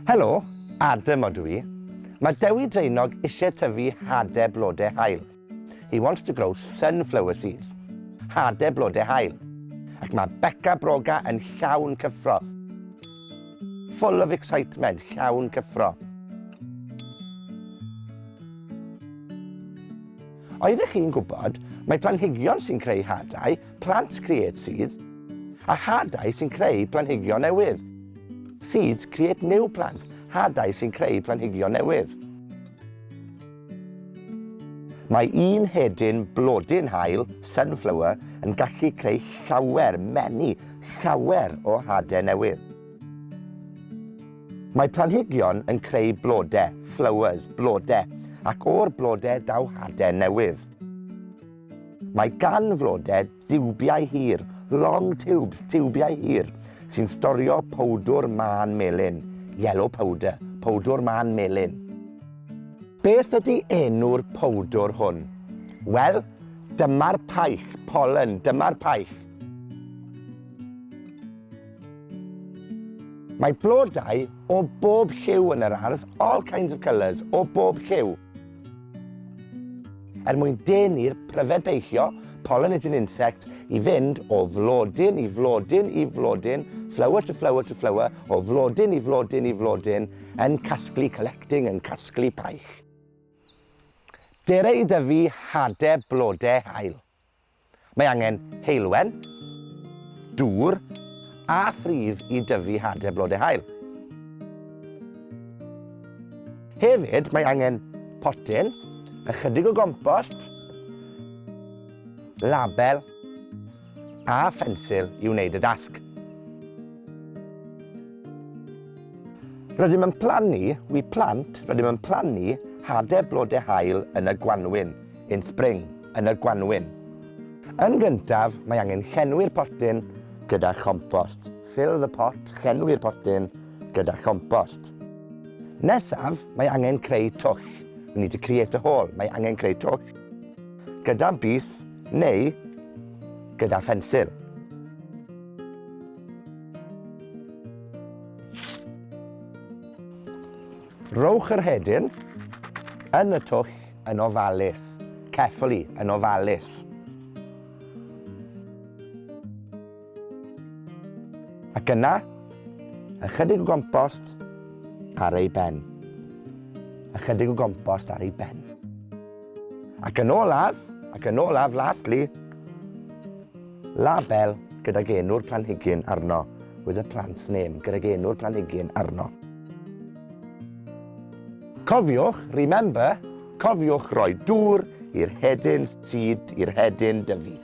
Helo, Adam o dwi. Mae Dewi Draenog eisiau tyfu hade blodau hael. He wants to grow sunflower seeds. Hade blodau hael. Ac mae Becca Broga yn llawn cyffro. Full of excitement, llawn cyffro. Oeddech chi'n gwybod mai planhigion sy'n creu hadau, plants create seeds, a hadau sy'n creu planhigion newydd, seeds create new plants, hadau sy'n creu planhigion newydd. Mae un hedyn blodyn haul, sunflower, yn gallu creu llawer, many, llawer o hadau newydd. Mae planhigion yn creu blodau, flowers, blodau, ac o'r blodau daw hade newydd. Mae gan flodau diwbiau hir, long tubes, tiwbiau hir, sy'n storio powdwr mân melyn, yellow powder, powdwr mân melyn. Beth ydy enw'r powdwr hwn? Wel, dyma'r paich, pollen, dyma'r paich. Mae blodau o bob lliw yn yr ardd, all kinds of colours, o bob lliw. Er mwyn denu'r pryfed beichio, pollinating insect, i fynd o flodyn i flodyn i flodyn, flower to flower to flower, o flodyn i flodyn i flodyn, yn casglu, collecting, yn casglu paich. Dere i dyfu hade blode hael. Mae angen heulwen, dŵr a phridd i dyfu hade blode haul. Hefyd, mae angen potyn, ychydig o gompost, label a phensil i wneud y dasg. Rydym yn plannu, we plant, rydym yn plannu hade blode haul yn y gwanwyn. in spring, yn y gwanwyn. Yn gyntaf, mae angen llenwi'r potyn gyda chompost. Fill the pot, llenwi'r potyn gyda chompost. Nesaf, mae angen creu twll. We need to create a hole. Mae angen creu twll gyda bus neu gyda phensil. Rowch yr hedyn yn y twll yn ofalus. Carefully, yn ofalus. Ac yna, ychydig o gompost ar ei ben. Ychydig o gompost ar ei ben. Ac yn olaf, ac yn olaf, lastly, label gydag enw'r planhigyn arno, with a plant's name, gydag enw'r planhigyn arno. Cofiwch, remember, cofiwch roi dŵr i'r hedyn seed, i'r hedyn dyfu.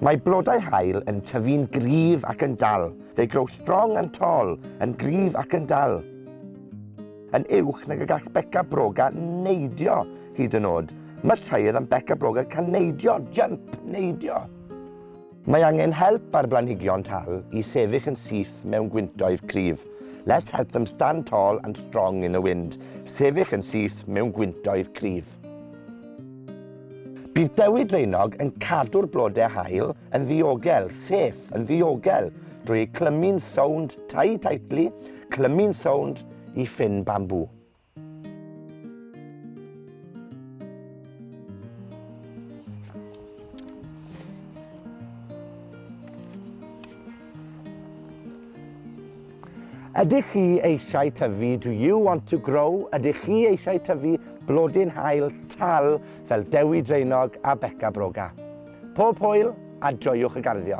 Mae blodau hael yn tyfu'n gryf ac yn dal. They grow strong and tall, yn gryf ac yn dal. yn uwch nag y gall beca broga neidio hyd yn oed. Mae taead am beca broga cael neidio, jump, neidio. Mae angen help ar blanhigion tal i sefyll yn syth mewn gwyntoedd cryf. Let's help them stand tall and strong in the wind. Sefyll yn syth mewn gwyntoedd cryf. Bydd Dewi Draenog yn cadw'r blodau hael yn ddiogel, sef yn ddiogel, drwy clymu'n sownd tai tightly Clymu'n sownd i ffyn bambŵ. Ydych chi eisiau tyfu, do you want to grow? Ydych chi eisiau tyfu blodyn hael tal fel Dewi Draenog a Beca Broga? Pob hwyl a joiwch y garddio!